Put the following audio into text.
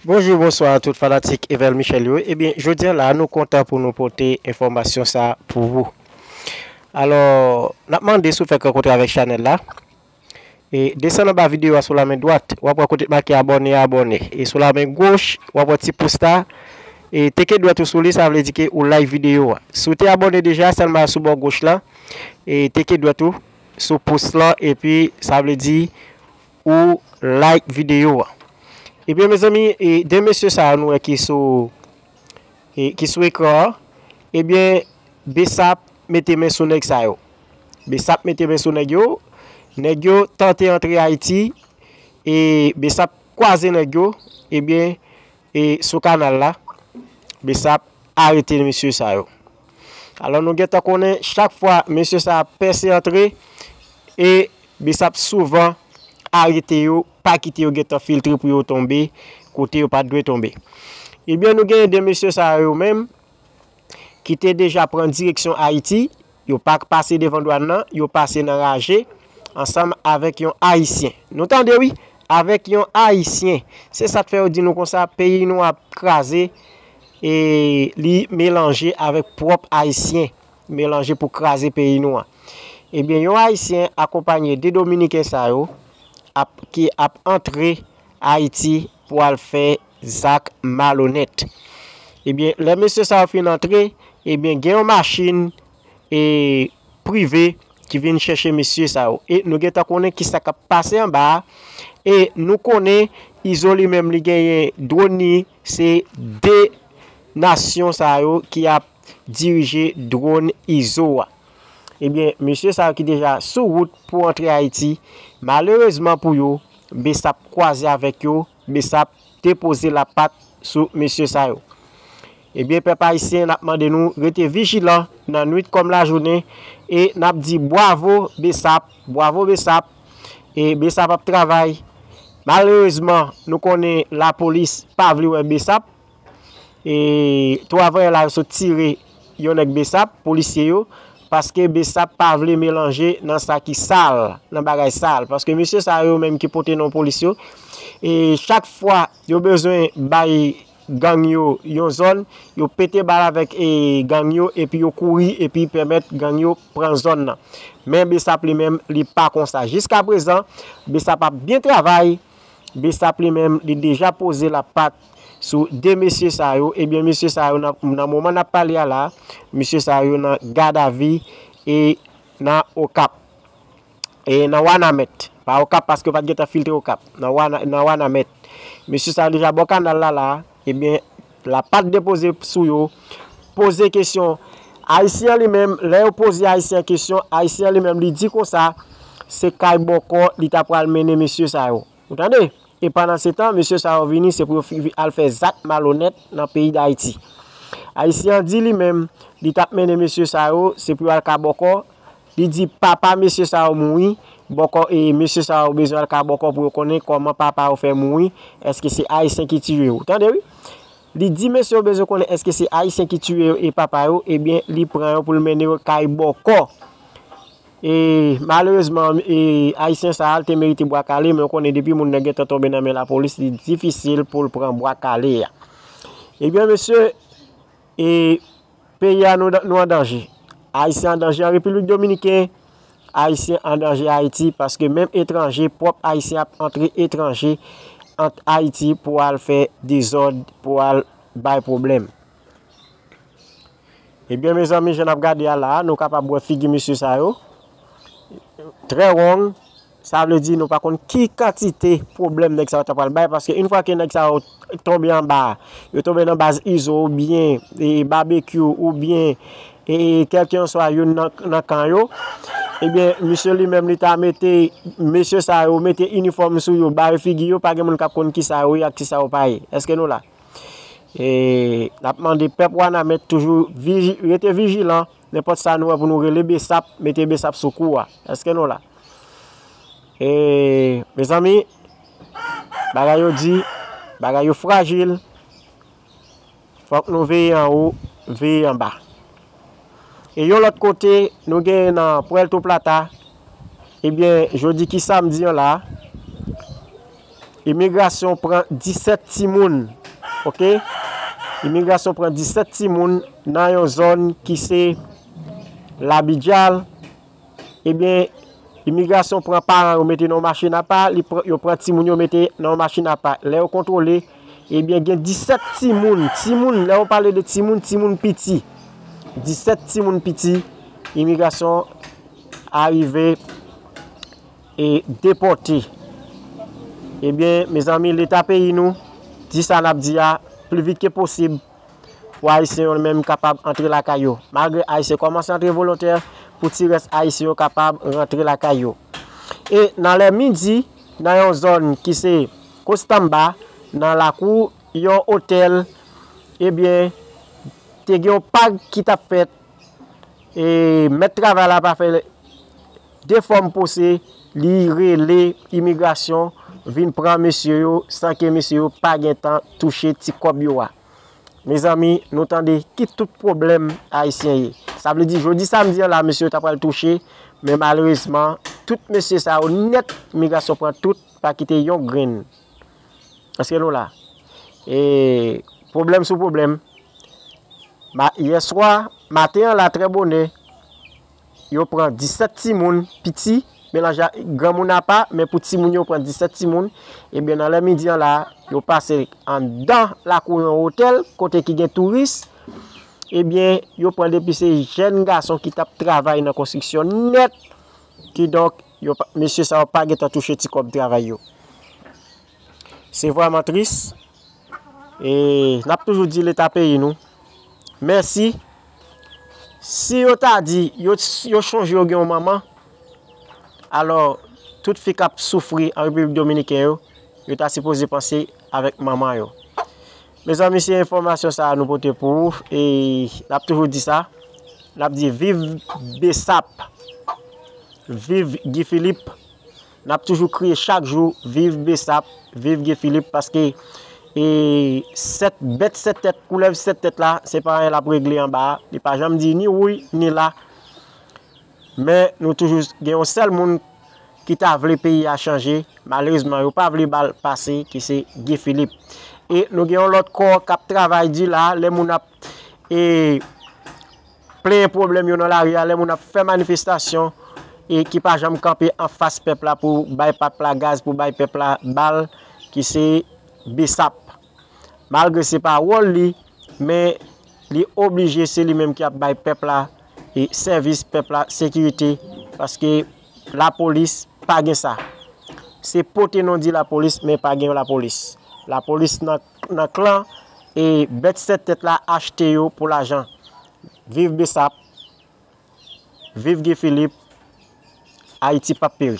Bonjou bonswa a tout fanatik Evel Michel yo ebyen jodi an la nou kontan pou nou pote enfòmasyon sa pou ou alò nap mande si w fèk rankontre avèk chanèl la e desann anba videyo a sou la men dwat wap wè kote ki make abòne a abòne e sou la men goch wap wè ti pous la e teke dwèt ou sou li sa vle di ke ou like videyo a si w te abòne deja sèlman sou bò goch lan e teke dwèt ou sou pous lan epi sa vle di Ou like video a. Ebyen mezanmi e 2 mesye sa yo nou wè ki sou e ki sou ekran an ebyen bsap mete men sou nèg sa yo bsap mete men sou nèg yo nèg yo tante antre ayiti e bsap kwaze nèg yo ebyen E sou kanal la bsap arete mesye sa yo. Alò nou gentan konnen chak fwa mesye sa ap pèse antre e bsap souvan arete yo pa kite yo gentan filtre pou yo tonbe kote yo pat dwe tonbe. Ebyen nou gen 2 mesye sa yo menm ki te deja pran direksyon Ayiti Yo pa k pase devan dwàn nan, yo pase nan raje, ansanm avèk yon Ayisyen. Nou tande wi! Avèk yon Ayisyen! Se sa k fè yo di nou konsa, peyi nou ap kraze e li melanje avèk pwòp Ayisyen, melanje pou kraze peyi nou an. Ebyen, yon Ayisyen akonpanye de Dominiken sa yo ap ki ap antre Ayiti pou al fè Zak malonèt. Ebyen lè mesye sa yo fin antre, ebyen gen yon machin e prive ki vin chèche mesye sa yo. E nou gentan konnen ki sa k ap pase anba a. E nou konnen Izo li menm li genyen dwòn li, se 2 nasyon sa yo ki ap dirije dwòn Izo a. Ebyen mesye sa yo ki deja sou wout pou antre Ayiti, malerezman pou yo, bsap kwaze avèk yo. Bsap te poze la pat sou mesye sa yo. Ebyen pèp ayisyen nap mande nou rete vijilan nan nwit kòm lajounen e nap di bwavo bsap bwavo bsap e bsap ap travay malerezman nou konnen lapolis pa vle wè bsap E 3 vayala yo sot tire yon nèg besap, polisye yo, paske besap pa vle melanje nan sa ki sal, nan bagay sal. Paske mesye sa yo menm ki pote non polis yo, e chak fwa yo bezwen bay gang yo yon zòn, yo pete bal avèk e gang yo epi yo kouri epi pèmèt gang yo pran zòn nan. Men besap li menm li pa konsa. Jiska prezan, besap ap byen travay. Bsap li menm li deja poze la pat sou 2 mesye sa yo, ebyen mesye sa yo nan moman nap pale a la, mesye sa yo nan gadavi e nan okap, e nan wanamèt, pa okap paske yo pat gentan filtre okap, nan wanamèt, mesye sa yo deja bò kanal la la. Ebyen la pat depoze sou yo. Poze kesyon. Ayisyen an li menm, lè yo poze Ayisyen an kesyon, Ayisyen an li menm li di konsa, se kay bòkò li ta pral mennen mesye sa yo. Ou tande? E pandan se tan, mesye sa yo vini, se pou yo al fè zak malonèt nan peyi Dayiti. Ayisyen an di li menm, li t ap mennen mesye sa yo, se pou yo al ka bòkò, Li di, Papa mesye sa yo mouri, bòkò e mesye sa yo bezwen al ka bòkò pou yo konnen kòman papa yo fè mouri, èske se Ayisyen ki tiye yo. Tande wi! Li di mesye yo bezwen konnen èske se Ayisyen ki tiye yo e papa yo, ebyen li pran yo pou l mennen yo kay bòkò. E malerezman e Ayisyen sa a li te merite bwa kale men ou konnen depi moun nan gentan tonbe nan men lapolis li difisil pou l pran bwa kale a. Ebyen mesye. E peyi a nou an danje. Ayisyen an danje an Repiblik Dominiken, Ayisyen an danje Ayiti paske menm etranje, pwòp Ayisyen ap antre etranje ant Ayiti pou al fè dezòd, pou al bay pwoblèm. Ebyen mezanmi jan n ap gade a la a nou kapab wè figi mesye sa yo, trè wong. Sa vle di nou pa konn ki kantite pwoblèm nèg sa yo ta pral bay paske yn fwa ke nèg sa yo tonbe anba, yo tonbe nan baz Izo oubyen Babekyou oubyen kèlkenswa youn nan kan yo, ebyen misye li menm li ta mete mesye sa yo mete inifòm sou yo bare figi yo pa gen moun k ap konn kisa yo ye ak kisa yo pa ye. Eske nou la? N ap mande pèp Wanament toujou rete vijilan. Nenpòt sa nou wè pou nou rele besap mete besap sou kou a eske nou la e mezanmi bagay yo di bagay yo frajil fòk nou veye anwo veye anba e yon lòt kote nou gen nan pwèlto plata ebyen jodi ki samdi an la. Imigrasyon pran 17 timoun ok imigrasyon pran 17 timoun nan yon zòn ki se labidjal ebyen eh imigrasyon pran paran yo mete nan yon machin apa yo pran timoun yo mete nan yon machin apa lè yo kontwole ebyen eh gen 17 timoun timoun lè yo pale de timoun timoun piti 17 timoun piti imigrasyon arive e depòte ebyen mezanmi leta peyi nou di sa nap di a pli vit ke posib pou ayisyen yo menm kapab antre lakay yo malgre ayisyen kòmanse antre volontè pou ti rès ayisyen yo kapab rantre lakay yo e nan lè midi nan yon zòn ki se kostamba nan lakou yon otèl ebyen te gen yon pag ki tap fèt E mèt travay la pa fè de fòm pose li rele imigrasyon vin pran mesye yo san ke mesye yo pa gen tan touche ti kòb yo a. Mezanmi, nou tande ki tout pwoblèm Ayisyen ye. Sa vle di jodi samdi an la mesye yo ta pral touche, men malerezman tout mesye sa yo nèt imigrasyon pran tout pa kite yon grenn. Eske nou la? E pwoblèm sou pwoblèm. Ma, yèswa, maten an la trè bonè, yo pran 17 timoun piti, melanje ak granmoun apa, men pou timoun yo pran 17 timoun, ebyen nan lè midi an la, yo pase anndan lakou yon otèl, kote ki gen touris, ebyen yo pran depi se jèn gason ki t ap travay nan konstriksyon nèt, Kidonk, yo pa, mesye sa yo pa gen tan touche ti kòb travay yo. Se vrèman tris. E, n ap toujou di Leta peyi nou, mèsi. Si yo ta di, yo, yo chonje yo gen yon manman, alò, tout fi k ap soufri an Repiblik Dominiken yo, yo ta sipoze panse avèk manman yo. Mezanmi se enfòmasyon sa a nou pote pou ou e nap toujou di sa nap di viv bsap viv Guy Philippe nap toujou kriye chak jou viv bsap viv Guy Philippe paske e 7 bèt 7 tèt koulèv 7 tèt la se pa anyen lap regle anba a li pa janm di ni wouy ni la. Men nou toujou gen yon sèl moun ki ta vle peyi a chanje, malerezman yo pa vle ba l pase ki se Guy Philippe. E nou gen yon lòt kò k ap travay di la, lè moun ap e plenyen pwoblèm yo nan lari a, lè moun ap fè manifestasyon e ki pa janm kanpe anfas pèp la pou bay pèp la gaz, pou bay pèp la bal ki se Bsap. Malgre se pa wòl li, men li oblije se li menm ki ap bay pèp la sèvis, pèp la sekirite, paske lapolis pa gen sa. Se pote non di lapolis, men pa gen lapolis. Lapolis nan klan, e bèt 7 tèt la achte yo pou lajan. Viv Bsap, viv Guy Philippe, Ayiti pap peri.